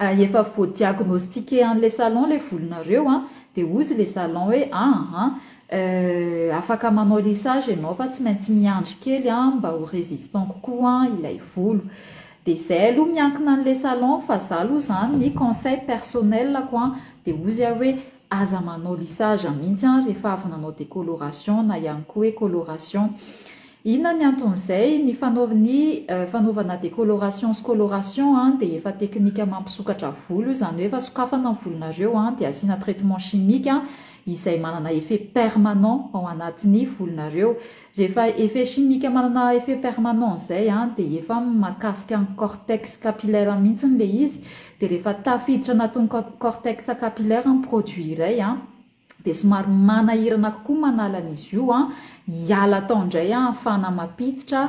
Efa vo diagnostique an le salon le volonareo an, de hozy le salon hoe aa euh afaka manao lissage enao fa tsy maintsy miandry kely an mba ho resistant kokoa an ilay volo, de zay aloha miankina anle salon fa za aloha zany ny conseil personnel-ko an de hozy aho hoe Aza manao lissage mihitsy an rehefa avy nanao decoloration na ihany koa hoe coloration. Inona ny anton'izay? Ny ny fanaovana decoloration sy coloration dia efa teknika mampisokatra volo io izany hoe efa sokafana ny volonareo dia asiana traitement chimique izay manana effet permanent ao anatin'ny volonareo. Rehefa effet chimique manana effet permanent izay an, dia efa makasika ny cortex capillaire mihitsy ilay izy, dia rehefa tafiditra anatin'ny cortex capillaire ny produit iray an, dia somary manahirana kokoa manala an'izy io an, hiala tao indray an, ahafahana mampiditra,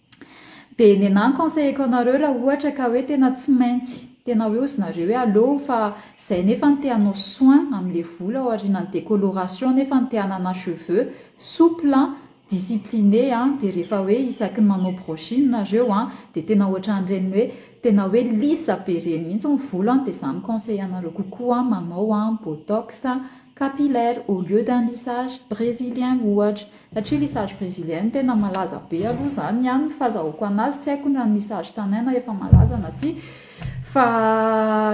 Dia nenah conseilleko anareo raha ohatra ka hoe tena tsy maintsy, tena hoe ozy nareo hoe aleo fa zay nefa no te hanao soin amin'ilay volo aorianan'ny décoloration nefa no te hanana cheveux souple an, discipline an, dia rehefa hoe isaky ny manao brushing nareo an, dia tena ohatran'ireny hoe tena hoe lisse be ireny mihintsy ny volo an, dia za mi conseille anareo kokoa manao an botox capillaire au lieu d'un lissage brésilien ohatra. Satria lisage brezilienne tena malaza be aloha izany ny any, ny fahazahoako anazy, tsy haiko na ny lisage tanaina efa malaza na tsia, fa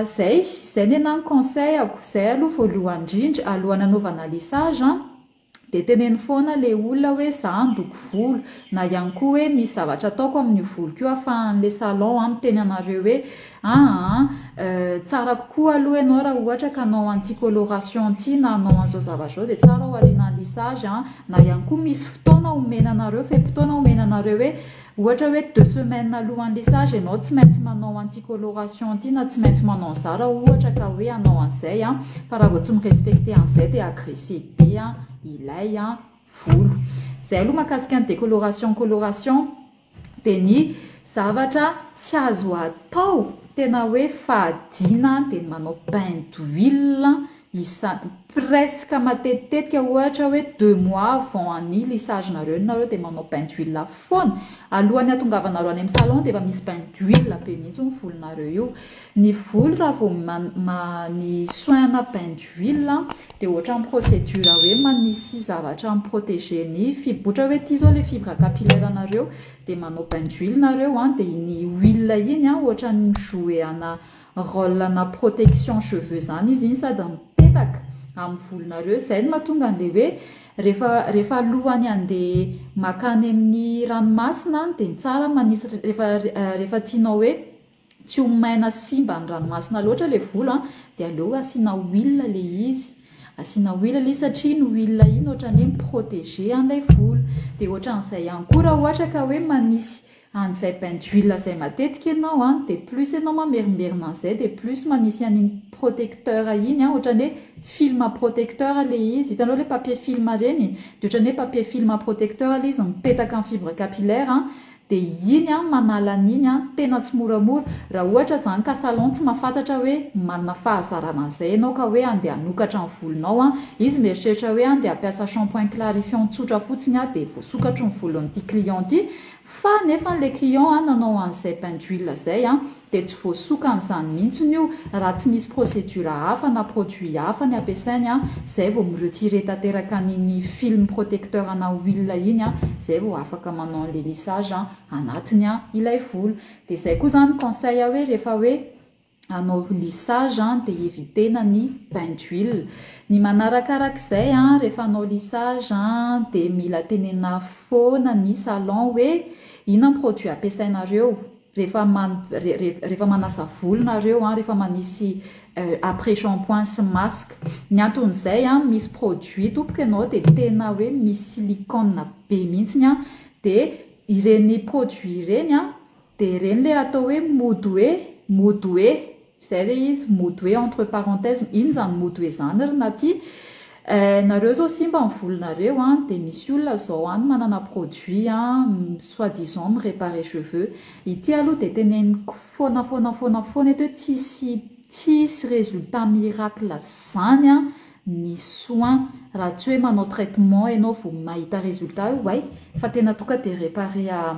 izay, izay ny anahy ny conseil-ako, izay aloha voalohany indrindra, alohan'ny hanaovana lisage an, dia teneno foana ilay olona hoe izaho handoko volo, na ihany koa hoe misy zavatra ataoko amin'io voloko io ahafahan'ilay salon miteny anareo hoe Aa euh tsara kokoa aloha ianao raha ohatra ka hanao an'ity coloration ity na hanao an'izao zavatra izao dia tsara ao aoriana ny lissage an, na ihany koa misy fotoana omena anareo fe-potoana omena anareo hoe ohatra hoe deux semaines alohan'ny lissage ianao tsy maintsy manao an'ity coloration ity na tsy maintsy manao an'izà raha ohatra ka hoe hanao an'izay an, fa raha vao tsy mi-respecter an'izay dia agresser be an ilay volo. Izay aloha mahakasika ny décoloration coloration. dia ny zavatra tsy azo atao tena hoe fahadiana dia ny manao bain d'huile isa- presque matetitetika ohatra hoe deux mois avant ny lissage-nareo nareo dia manao bain d'huile foana, alohan'ny hatongavanareo any amin'ny salon dia efa misy bain d'huile be mihitsy ny volonareo io Ny volo raha vao ny soin na bain d'huile dia ohatran'ny procédure hoe manisy zavatra mi protéger ny fibre ohatra hoe ity izao ilay fibre capillaire nareo dia manao bain d'huile nareo an dia iny huile iny an ohatran'ny mi jouer ana role ana protection cheveux izany izy iny sady mipetaka amin'ny volonareo izay no mahatonga an'ilay hoe rehefa rehefa alohan'ny handeha makany amin'ny ranomasina dia tsara manisy rehefa tianao hoe Tsy ho maina sy simba ny ranomasina loatra ilay volo an, dia aleo asiana huile ilay izy, asiana huile ilay izy satria iny huile iny ohatran'ny hoe mi-proteger an'ilay volo, dia ohatran'izay ihany koa raha ohatra ka hoe manisy an'izay bain d'huile izay matetika ianao an, dia plus ianao mamerimberina an'izay dia plus manisy an'iny protecteur iny an, ohatran'ny hoe film protecteur ilay izy, hitanao ilay papier film ireny? dia ohatran'ny hoe papier film protecteur ilay izy mipetaka amin'ny fibre capillaire an, De iny an manala an'iny an tena tsy moramora, raha ohatra zany ka salon tsy mafantatra hoe manana fahazarana an'izay ianao ka hoe andeha hanokatra ny volonao an, izy mieritreritra hoe andeha hampiasa shampoing clarifiant tsotra fotsiny aho de voasokatro ny volon'ity client ty, fa nefany le client an nanao an'izay bain d'huile zay an, dia tsy voasokany izany mihitsiny io raha tsy misy procédure hafa na produit hafa ny ampiasainy an, izay vao mi retirer tanteraka an iny film protecteur ana huile iny an, izay vao afaka manao an'ilay lissage an anatiny an ilay volo. Dia izay koa izany conseil hoe rehefa hoe hanao lissage an dia eviter-na ny bain d'huile. Ny manarakarak'izay an rehefa hanao lissage an dia mila tenenina foana ny salon hoe inona ny produit ampiasainareo, Rehefa man rehefa manasa volo nareo an, rehefa manisy après shampoing sy masque, ny anton'izay an misy produit tompoko ianao dia tena hoe misy silicone be mihitsy an, dia ireny produit ireny an dia ireny ilay atao hoe mody hoe mody hoe. Zay le izy mody hoe entre parenthèses inn zany mody hoe zany ry Naty eh nareo zao simba ny volonareo an de misy olona zao an manana produit an soit disant mi reparer cheveux ity aloha de teneniko fona fona fona fona eto hoe tsisy tsisy resultat miracle zany an ny soin raha tsy hoe manao traitement enao vo mahita resultat io way fa tena toka de reparer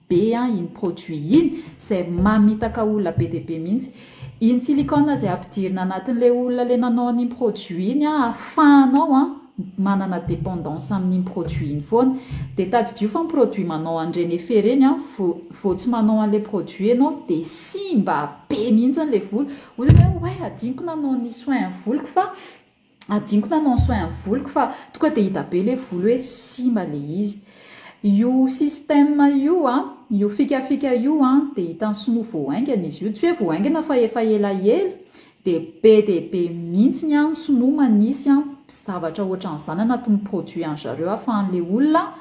be an iny produit iny zay mamitaka olona be dia be mihitsy, iny silicone zay ampidirina anatin'ilay olona le nanao an'iny produit iny an afahanao an manana dependance amin'iny produit iny foana, dia tadidio fa ny produit manao an'ireny effet ireny an vo vo tsy manao an'ilay produit ianao dia simba be mihitsy ilay volo, hoy ianao hoe hadinoko nanao ny soin voloko fa Adinoko nanao soin ny voloko fa toka dia hita be le volo hoe simba le izy. Io système io an, io fikafika io an dia hitan'ny sinoa vao haingana izy io, tsy hoe vao haingana fa efa elaela dia be dia be mintsiny an ny sinoa manisy an zavatra ohatran'izany anatin'ny produit an'zareo afahan'le olona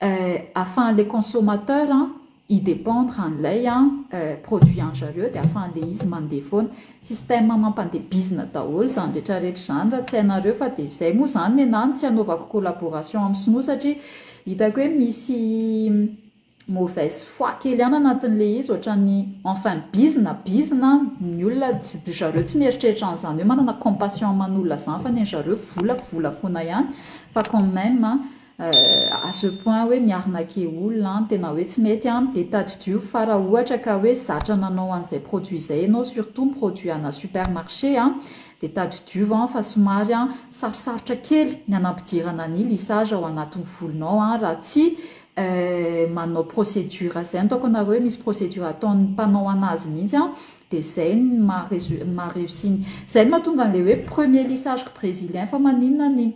Eh, afahan'le consommateur an i dépendre an'ilay an eh produit anzareo dia afahan'le izy mandeha foana. Système mampandeha bizina daholo zany retraretra zany raha tsy hainareo fa dia zay moa zany ny anah no tsy hanaovako collaboration amin'ny sinoa satria hitako hoe misy mauvaise foi kely ihany anatin'ilay izy ohatran'ny enfin bizina bizina an ny olona ry zareo tsy mieritreritra an'izany hoe manana compassion aman'olona zany fa ny anzareo vola vola foana ihany fa quand même an à ce point hoe miarnake olona an, tena hoe tsy mety an, be tadidio fa raha ohatra ka hoe zatra nanao an'izay produit izay ianao surtout ny produit ana super marché an, dia tadidio an fa somary an sarosarotra kely ny anampidirana ny lissage ao anatin'ny volonao an raha tsy manao procédure izay, ny ataoko anareo hoe misy procédure ataon'ny mpanao anazy mihitsy an, dia izay no maha-réussi ny, izay no mahatonga an'ilay hoe premier lissage-ko brésilien fa maninona ny.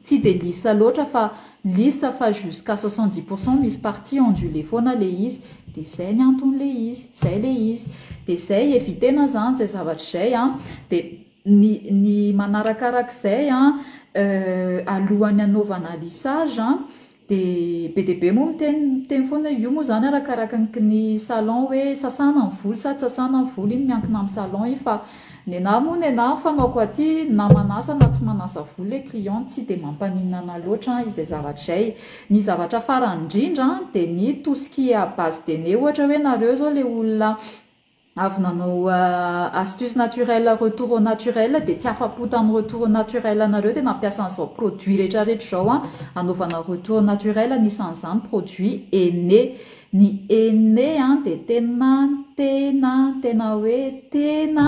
Tsy dia lisa loatra fa lisa fa jusqu'à soixante dix pour cent misy partie ondulée foana le izy dia zay ny antony le izy zay le izy dia zay evitena zany zay zavatra izay an dia ny ny manarakarak'izay an alohan'ny hanaovana lissage an Dia be dia be moa miteny miteny foana, io moa izany arakaraka ny ny salon hoe sasana ny volo sa tsy sasana ny volo, iny miankina amin'ny salon iny fa nenaha moa nenaha ny fanaoko aty na manasa na tsy manasa volo ilay client tsy dia mampaninona anah loatra izay zavatra izay, ny zavatra farany indrindra dia ny tout ce qui est à base de nez ohatra hoe nareo izao ilay olona avy nanao astuce naturelle retour au naturel dia tsy afa-po tamin'ny retour au naturel anareo dia nampiasa an'izao produit retraretra izao an anaovana retour au naturel anisan'izany produit ene ny ene an dia tena tena tena hoe tena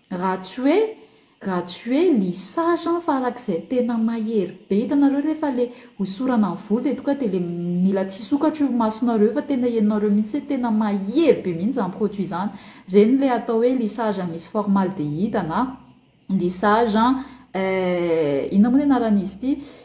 Raha tsy hoe raha tsy hoe lissage an fa araka izay tena mahery be hitanareo rehefa le hosorana ny volo dia tonga dia le mila tsy hisokatra io masonareo fa tena henonareo mihitsy hoe tena mahery be mihitsy izany produit izany ireny ilay atao hoe lissage misy formaldehida na lissage eh inona moa ny anaran'izy ity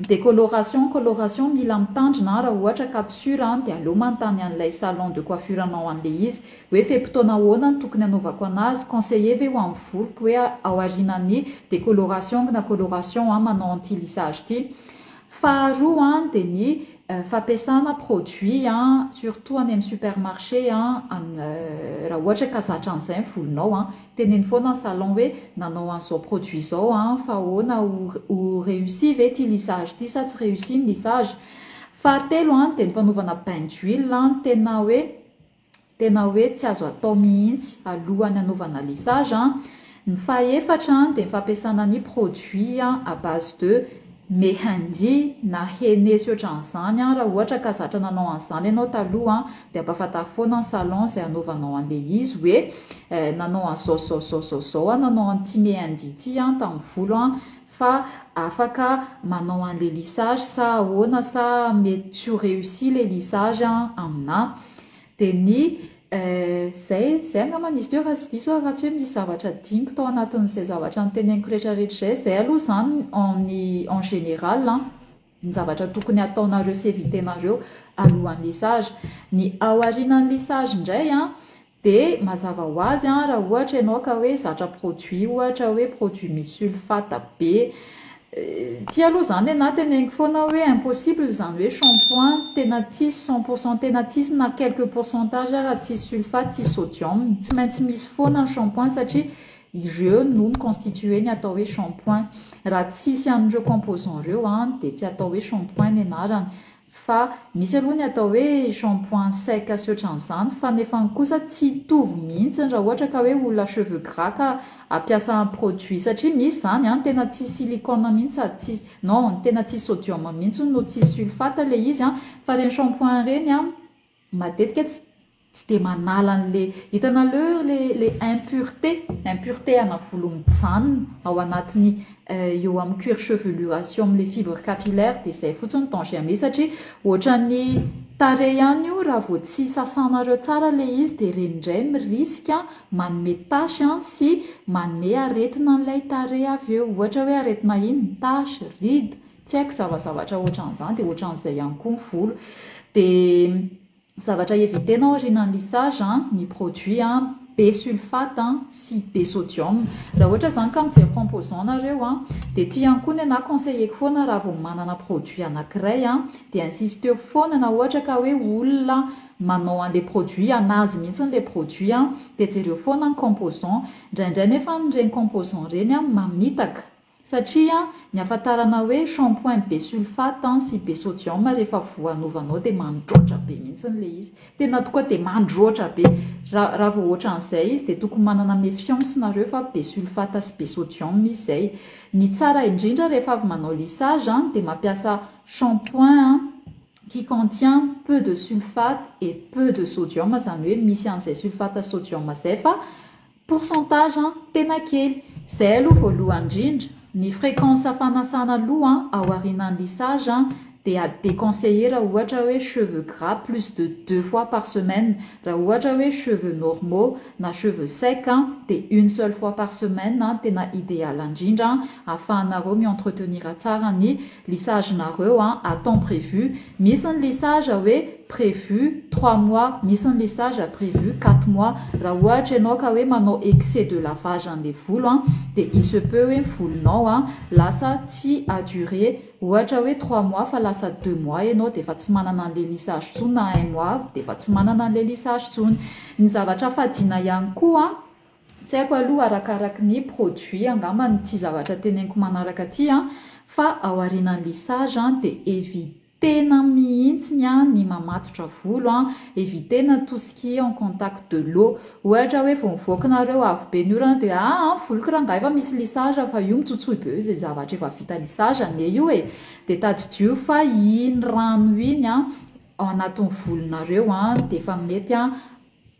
Decoloration, coloration, mila mitandrina an, raha ohatra ka tsy sur an dia aleo manontany an'ilay salon de coiffure anao an'ilay izy hoe fe-potoana ahoana no tokony hanaovako anazy, conseiller ve ho amin'ny voloko hoe aorianan'ny decoloration na coloration an manao an'ity lissage ity. Faharoa an dia ny fampiasana produit an surtout any amin'ny supermarché an raha ohatra ka zatra an'izay ny volonao an. Teneno foana ny salon hoe nanao an'izao produit izao an, fa ahoana ho réussi ve ity lissage ity sa tsy réussi ny lissage. Fahatelo an, dia ny fanaovana bain d'huile an, tena hoe tena hoe tsy azo atao mihitsy alohan'ny hanaovana lissage an. Ny fahefatra an, dia ny fampiasana ny produit à base de Mehndi, Na hene sy ohatran'izany an, raha ohatra ka zatra nanao an'izany ianao taloha an, dia ampahafantaro foana ny salon izay hanaovanao an'ilay izy hoe eh, nanao an'izao zao zao zao zao aho, nanao an'ity mehndi ity aho tamin'ny volo an, fa afaka manao an'ilay lissage sa ahoana sa mety tsy ho réussi ilay lissage an aminà. Dia ny eh, zay, zay angambany izy teo raha tsy diso aho, raha tsy hoe misy zavatra adinoko tao anatin'izay zavatra noteneniko rehetrarehetra izay, zay aloha izany en en général an, ny zavatra tokony hataonareo sy eviter-nareo alohan'ny lissage. Ny ao aorianan'ny lissage indray an, dia mazava ho azy an, raha ohatra ianao ka hoe zatra produit ohatra hoe produit misy sulfate be, Ity aloha izany nenahy teneniko foana aho hoe impossible izany hoe shampoing tena tsisy cent pour cent tena tsisy na quelques pourcentages ara tsisy sulfate tsisy sodium tsy maintsy misy foana ny shampoing satria ireo no mi constituer ny atao hoe shampoing raha tsisy an'ireo composants ireo an dia tsy atao hoe shampoing ny anarany Fa misy aloha ny atao hoe shampoing sec sy otran'izany fa nefany kosa tsy hitovy mihitsiny raha ohatra ka hoe olona cheveux gras ka hampiasa produit satria misy zany an tena tsisy silicone mihitsy sady tsisy non tena tsisy sodium mihitsy no tsisy sulfate ilay izy an fa ireny shampoing ireny an matetika tsy tsy dia manala an'le hitanaleo le le impureté impureté ana volo mijanona ao anatin'ny euh, eo amin'ny cuir chevelure sy eo amin'le fibre capillaire dia izay fotsiny ny danger am'le satria ohatran'ny tarehy ihany io raha vao tsy sasanareo tsara le izy dia ireny indray miriska manome tache an sy manome aretina an'ilay tarehy avy eo ohatra hoe aretina iny ny tache ride Tsy haiko zavazavatra ohatran'izany dia ohatran'izay ihany koa ny volo dia zavatra éviter nao aoriana ny lissage an, ny produit an be sulfate an sy be sodium, raha ohatra izany ka mijery composant nareo an dia ity ihany koa ny anah conseilleko foana raha vao manana produit anankiray an dia insisteo foana na ohatra ka hoe olona manao an'ilay produit anazy mihintsy ilay produit an dia jereo foana ny composant, indraindray nefa ireny composant ireny an mamitaka. Satria ny hafantarana hoe shampoing be sulfate sy be sodium rehefa voanovanao dia mandroatra be mihitsy ilay izy. Tena tokoa dia mandroatra be. Raha raha vao ohatran'izay izy dia tokony manana méfiance nareo fa be sulfate sy be sodium izy izay. Ny tsara indrindra rehefa avy manao lissage dia mampiasa shampoing qui contient peu de sulfate et peu de sodium izany hoe misy an'izay sulfate sy sodium izay fa Pourcentage an, tena kely. Zay aloha voalohany indrindra, ny fréquence fanasana loha an, ao aorianan'ny lissage an, dia déconseillé raha ohatra hoe cheveux gras plus de deux fois par semaine, raha ohatra hoe cheveux normaux na cheveux secs an, dia une seule fois par semaine an, tena ideal indrindra an, afahanareo mi-entretenir tsara ny. Lissage nareo an, à temps prévu, misy ny lissage hoe prévu trois mois, misy ny lissage prévu quatre mois, raha ohatra ianao ka hoe manao excès de lavage an'ilay volo an, dia il se peut hoe ny volonao an lasa tsy à durée ohatra hoe trois mois fa lasa deux mois ianao dia efa tsy manana an'ilay lissage tsony na un mois dia efa tsy manana an'ilay lissage tsony. Ny zavatra fadiana ihany koa an, Tsy haiko aloha arakaraky ny produit angamba no tsy zavatra teneniko manaraka aty an, fa aorianan'ny lissage an dia evitena mihitsiny an ny mamatotra volo an, evitena tout ce qui est en contact de l'eau, ohatra hoe vao mivoaka nareo avy be ny orana dia aa an voloko rangahy efa misy lissage fa io mitsotsoy be eo izay zavatra efa vita lissage anie io e, dia tadidio fa iny rano iny an ao anatin'ny volonareo an dia efa mety an.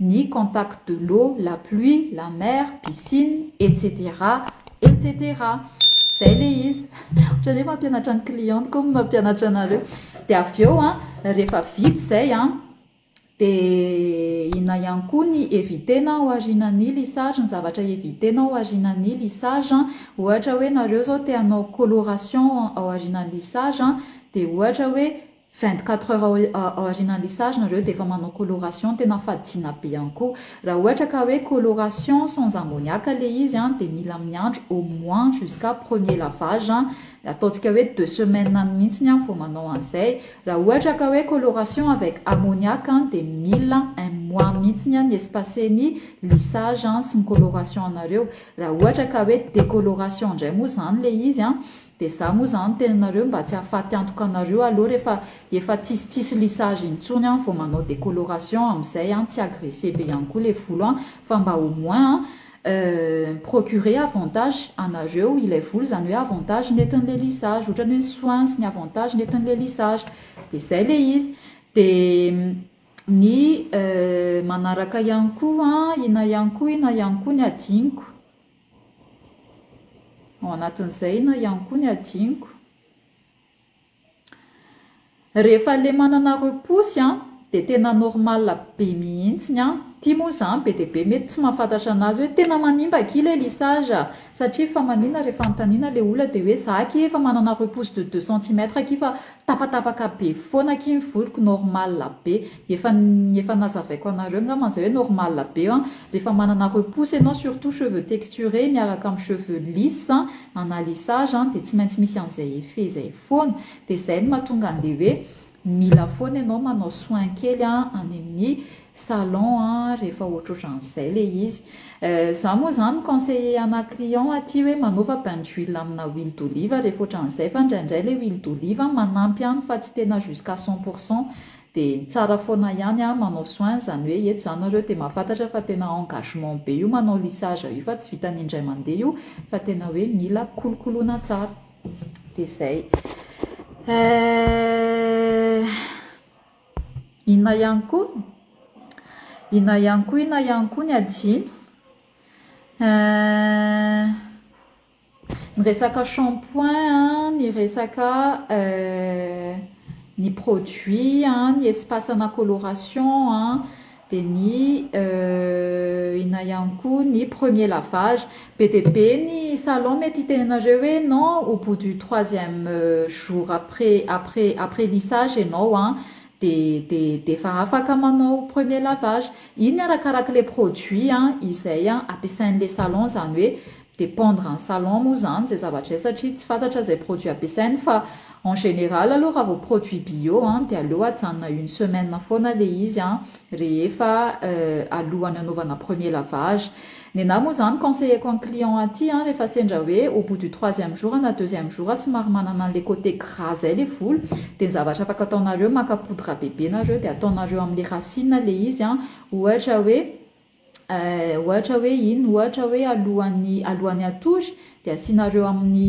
ny contact de l'eau, la pluie, la mer, piscine, etc. Etc. Izay ilay izy. Ohatran'ny hoe mampianatra ny cliente koa ny mampianatra anareo. Dia avy eo an, rehefa vita izay an, dia inona ihany koa ny eviter-na ao aorianan'ny lissage, ny zavatra eviter-na ao aorianan'ny lissage an, ohatra hoe ianareo izao te hanao coloration ao aorianan'ny lissage dia ohatra hoe Vingt quatre heures ao aorianan'ilay sary nareo dia efa manao coloration tena fadina be ihany koa. Raha ohatra ka hoe coloration sans ammoniac ilay izy an dia mila miandry au moins jusqu'à premier lavage an, ataontsika hoe deux semaines any mihitsy an vao manao an'izay. Raha ohatra ka hoe coloration avec ammoniac an dia mila un mois mihitsy an ny espace-ny lissage sy ny coloration anareo. Raha ohatra ka hoe décoloration indray moa izany ilay izy an Dia za moa zany teninareo mba tsy afaty antoka anareo alou refa efa tsisy tsisy lissage intsony an vao manao decoloration amizay an tsy agresse be ihany koa le volo an fa mba au moins an euh procurer avantage anareo ilay volo zany hoe avantage netinle lissage otrany hoe ny soins sy ny avantage netinle lissage dia zay le izy dia ny euh manaraka ihany koa an ina ihany koa ina ihany koa ny adinoko. Ao anatin'izay na ihany koa ny hadinoko. Rehefa ilay manana roa posy dia tena normal be mihitsy ny ahy. Ity moa izany be dia be mety tsy mahafantatra an'azy hoe tena manimba akia ilay lissage a! satria efa maninona rehefa anontaniana ilay olona dia hoe za akia efa manana roa posy de deux centimètres akia fa. Tapatapaka be foana akia ny voloko normal be efa ny efa nazavaiko anareo ngamba zay hoe normal be an rehefa manana repousse ianao surtout cheveux texturés miaraka amin'ny cheveux lisses an à lissage an dia tsy maintsy misy an'izay effet zay foana dia zay no mahatonga an'le hoe mila foana ianao manao soin kely any amin'ny salon a rehefa ohatrohatran'izay le izy eh, za moa zany mi conseiller ana client aty hoe manaova bain d'huile amina huile d'olive rehefa ohatran'izay fa indraindray le huile d'olive manampy any fa tsy tena jusqu'à cent pour cent de tsara foana ihany a manao soin zany hoe eto za nareo de mahafantatra fa tena engagement be io manao lissage io fa tsy vitan'ny indray mandeha io fa tena hoe mila kolokoloina tsara de zay eh Inona ihany koa? Inona ihany koa inona ihany koa ny adino? Ny resaka shampoing an, ny resaka ny produits an, ny espace ana coloration an, Dia ny inona ihany koa ny premier lavage. Be dia be ny salon mety hiteny anareo hoe non au bout du troisième jour après après après lissage ianao an dia dia dia efa afaka manao premier lavage. Iny arakaraka ilay produit an izay an ampiasain'ilay salon izany hoe dépendre en salon moa zany zay zavatra zay satria tsy fantatra zay produit ampiasainy fa en général aloha raha vao produit bio an dia aleo ajanona une semaine foana le izy an rehefa alohan'ny anaovana premier lavage nenahy moa zany conseilleko an'i client aty an rehefa sendra hoe au bout du troisième jour na deuxième jour somary manana an'le côté gras zay le volo dia ny zavatra afaka ataonareo maka poudre bebe nareo dia ataonareo am'le racine le izy an ohatra hoe Eh, ohatra hoe inn, ohatra hoe alohan'ny alohan'ny hatory dia asianareo amin'ny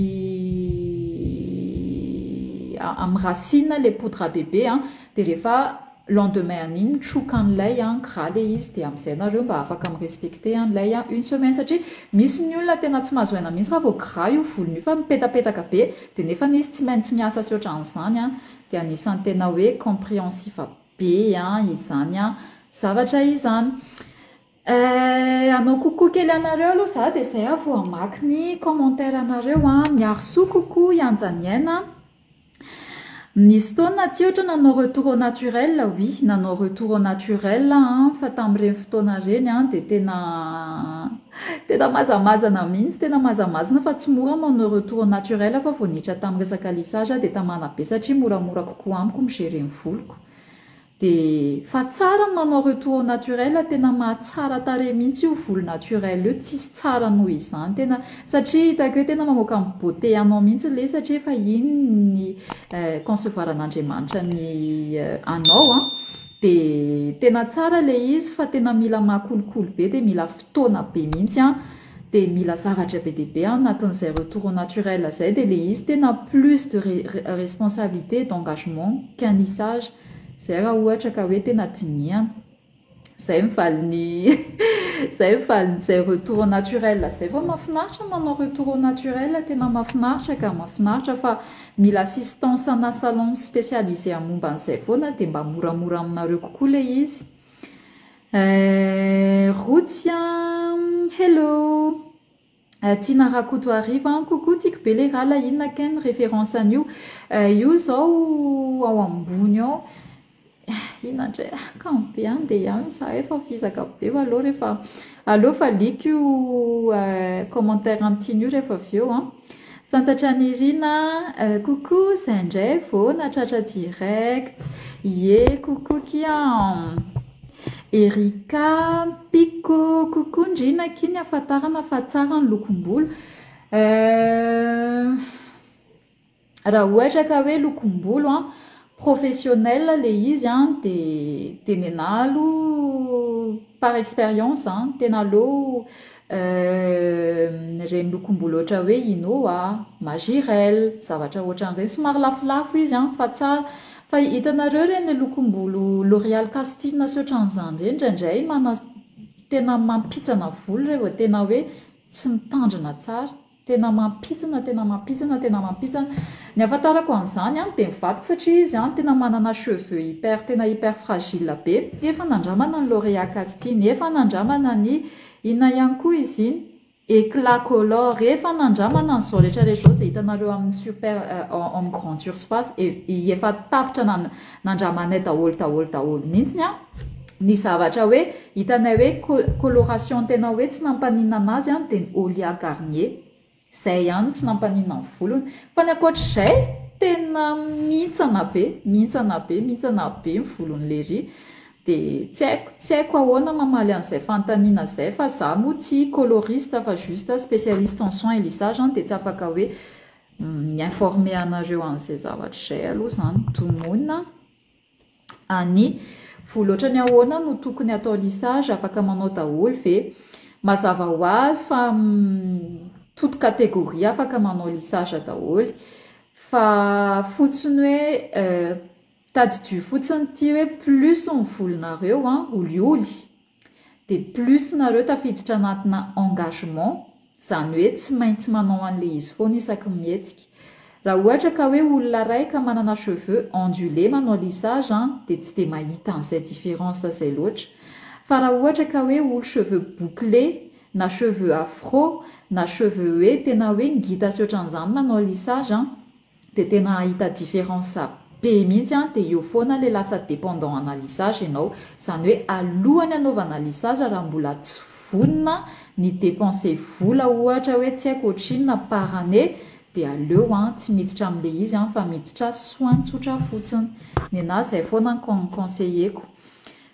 amin'ny racine le poudre à bébé an, dia rehefa lendemain an'iny troka an'ilay an, gras le izy dia amin'izay nareo mba afaka mi respecter an'ilay an une semaine satria misy ny olona tena tsy mahazo aina mihitsy raha vao gras io volony io fa mipetapetaka be dia nefany izy tsy maintsy miasa sy ohatran'izany an, dia anisan'ny tena hoe compréhensif. be an izany an zavatra izany eh, anao kokoa kely anareo aloha za de zay aho vao hamaky ny commentaire anareo an miaro soa kokoa hianja ny aina nisy taona ty ohatra nanao retour au naturel oui nanao retour au naturel an fa tamin'ireny fotoana ireny an de tena Tena mazamazana mihintsy, tena mazamazna fa tsy mora manao retour au naturel fa vao niditra tamin'ny resaka lissage aho dia tamana be satria moramora kokoa amiko mi-gerer ny voloko dia fa tsara ny manao retour au naturel tena mahatsara tarehy mihintsy io volo naturel io tsisy tsara noho izany tena satria hitako hoe tena mamoaka ny beauté anao mihintsy ilay izy satria efa iny ny concevoir an'Andriamanitra ny anao an! De tena tsara le izy fa tena mila maha kolikoly be de mila fotoana be mintsy an! de mila zavatra be dia be anatin'izay retour au naturel zay de le izy tena plus de responsabilité et d'engagement qu'un lissage zay raha ohatra ka hoe tena dinihana! zay ny valin'ny zay ny valin'izay retour au naturel zay fa mahafinaritra manao retour au naturel tena mahafinaritra ka! mahafinaritra fa Mila assistance ana salon spécialisé am momba an'izay foana dia mba moramora aminareo kokoa le izy eh rotsy a hello eh tiana rakotoariva an coucou tiako be le rala inona ken reference an'io eh io zao ao ambony ao Inandray akany be any dia any izahay fa vizaka be fa aleo rehefa aleo valiako io commentaire an'Tiny io rehefa avy eo an! Santatra Nirina an! Coucou izay indray vao nahatratra direct! Ie coucou kia an! Erika Picco coucou Ndrina akia ny hahafantarana fa tsara ny lokom-bolo eh! Raha ohatra ka hoe lokom-bolo an, professionnel le izy an de de nenaha aloha par expérience an, tena aleo ireny lokom-bolo ohatra hoe Inoa, Majirel, zavatra ohatran'ireny, somary lafolafo izy an fa tsara, fa hitanareo ireny le lokom-bolo L'oréal castille sy ohatran'izany ireny indraindray mana- tena mampitsana volo ireny vao tena hoe tsy mitandrina tsara. Tena mampitsana tena mampitsana tena mampitsana Ny ahafantarako an'izany an dia ny vadiko satria izy an tena manana cheveux hyper tena hyper fragile be efa nandramana ny L'oreal casting efa nandramana ny inona ihany koa izy iny eclat color efa nandramana an'izao rehetra rehetra izao izay hitanareo amin'ny super homme grande surface efa tapitra Nandramanay daholo daholo daholo mintsiny an ny zavatra hoe hitanay hoe coloration tena hoe tsy nampaninana azy an dia ny Olia Garnier zay ihany tsy nampaninana ny volony fa ny ankoatr'izay tena mihintsana be mihintsana be mihintsana be ny volony lery dia tsy haiko tsy haiko ahoana mamaly an'izay fanontaniana zay fa za moa tsy coloriste fa juste spécialiste en soins et lissage an dia tsy afaka hoe mi informer anareo an'izay zavatra izay aloha izany donona a ny vola ohatrany ahoana no tokony atao lisage afaka manao daholo ve mazava ho azy fa toute catégorie afaka manao lisage daholo fa fotsiny hoe Tadidio fotsiny ity hoe plus ny volonareo an, olioly, dia plus nareo tafiditra anatina engagement, izany hoe tsy maintsy manao an'ilay izy foana isaky ny mihetsika. Raha ohatra ka hoe olona iray ka manana cheveux ondulés manao lissage an, dia tsy dia mahita an'izay différence izay loatra. Fa raha ohatra ka hoe olo cheveux bouclés, na cheveux afro, na cheveux hoe tena hoe ngita sy ohatran'izany manao lissage an, de tena hahita difference be mihitsy an, de eo foana le lasa dependant ana lissage enao, zany hoe alohany anaovana lissage raha mbola tsy vonona ny depense vola ohatra hoe tsy haiko otrinona par année de aleo an tsy miditra amle izy an fa miditra soin tsotra fotsiny, nenaha zay foana ny conseiller-ko.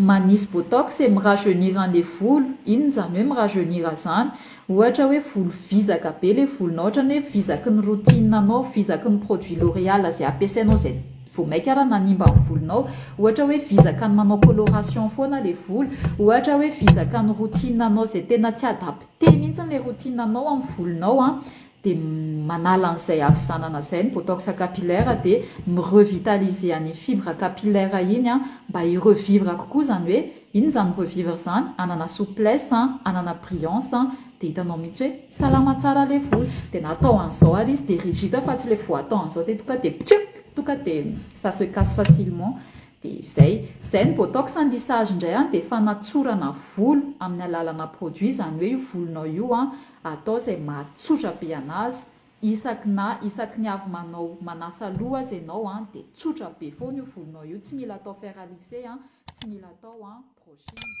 manisy botox et mirajeunir anle volo, inona izany hoe mirajeunir izany? ohatra hoe volo vizaka be ilay volonao ohatran'ny hoe vizaky ny routine anao, vizaky ny produit l'oreal izay ampiasainao izay vao maika ary nanimba ny volonao, ohatra hoe vizaka ny manao coloration foana ilay volo, ohatra hoe vizaka ny routine anao izay tena tsy adapte mihitsy ilay routine anao amin'ny volonao an! dia manala an'izay havizanana izay ny botox capillaire dia mi revitaliser an'iny fibre capillaire iny mba hi revivre kokoa izany hoe inona izany revivre izany hanana souplesse hanana brillance dia hitanao mihitsy hoe salama tsara ilay volo dia na atao an'izao ary izy dia rigide fa tsy ilay vao atao an'izao dia tonga dia ptchit tonga dia ça se casse facilement dia izay, izay ny botox ny lissage indray dia fanatsorana volo amin'ny alalana produit izany hoe io volonao io an Atao izay mahatsotra be anazy, isaky na isaky ny avy manao manasa loha aza ianao an, dia tsotra be foana io volonao io, tsy mila atao fer à lisser an, tsy mila atao an brushing.